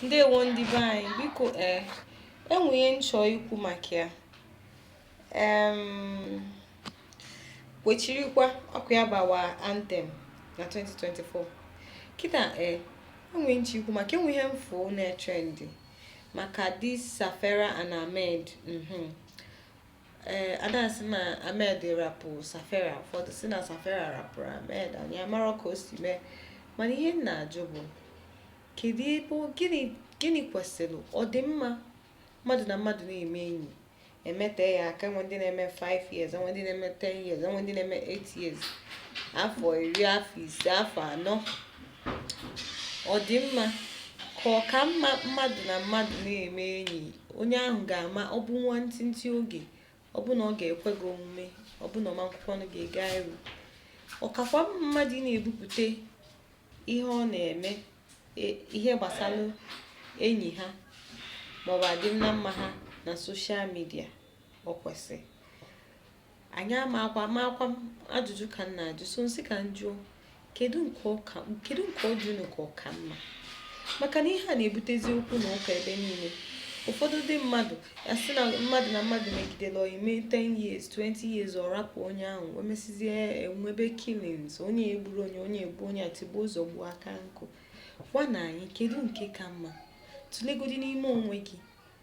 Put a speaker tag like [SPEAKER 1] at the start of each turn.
[SPEAKER 1] ndewo ndị be anyị biko ee eh, enwe ihe m chọ ikwu maka ya kwechirikwa ọ kwa ya bụ our anthem na 2024 kịta ee eh, enwe m chọ ikwu maka enwe ihe m fụ na-etrendị maka this safera and ahmed mhm. ee eh, ada sị na Ahmed rapụ Safera ụfọdụ sị na Safera rapụrụ Ahmed anyị amarọ ka o si mee mana ihe m na-ajụ bụ kedu ebe gịnị gịnị kwesịrị ọ dị mma mmadụ na mmadụ na-eme enyi emete ya aka enwe ndị na-eme 5 years enwe ndị na-eme 10 years enwe ndị na-eme 8 years afọ iri afọ ise afọ anọ ọ dị mma ka ọ ka mma mmadụ na mmadụ na-eme enyi onye ahụ ga-ama ọ bụ nwa ntịntị oge ọ bụ na ọ ga-ekwe gị omume ọ bụ na ọ ma ekwekwanụ ga-ega iru ọ kakwa mma mmadụ ị na-ebupụta ihe ọ na-eme e- ihe gbasara enyi ha maọbụ adịm na mma ha na social media ọ kwesịrị anyị amakwa amakwa m ajụjụ ka m na-ajụ so m sị ka m jụọ kedu nke ọ ka kedu nke ọ dị unu ka ọ ka mma maka na ihe a na-ebutezi okwu na ụka ebe niile ụfọdụ ndị mmadụ asị na mmadụ na mmadụ megidere ọyị mee 10 years 20 years ọ rapụ onye ahụ o mesizie enwebe killings onye egburu onye onye egbu onye atigbuo azọgbuo aka nkụ gwanụ anyị kedu nke ka mma tụlegodi n'ime onwe gị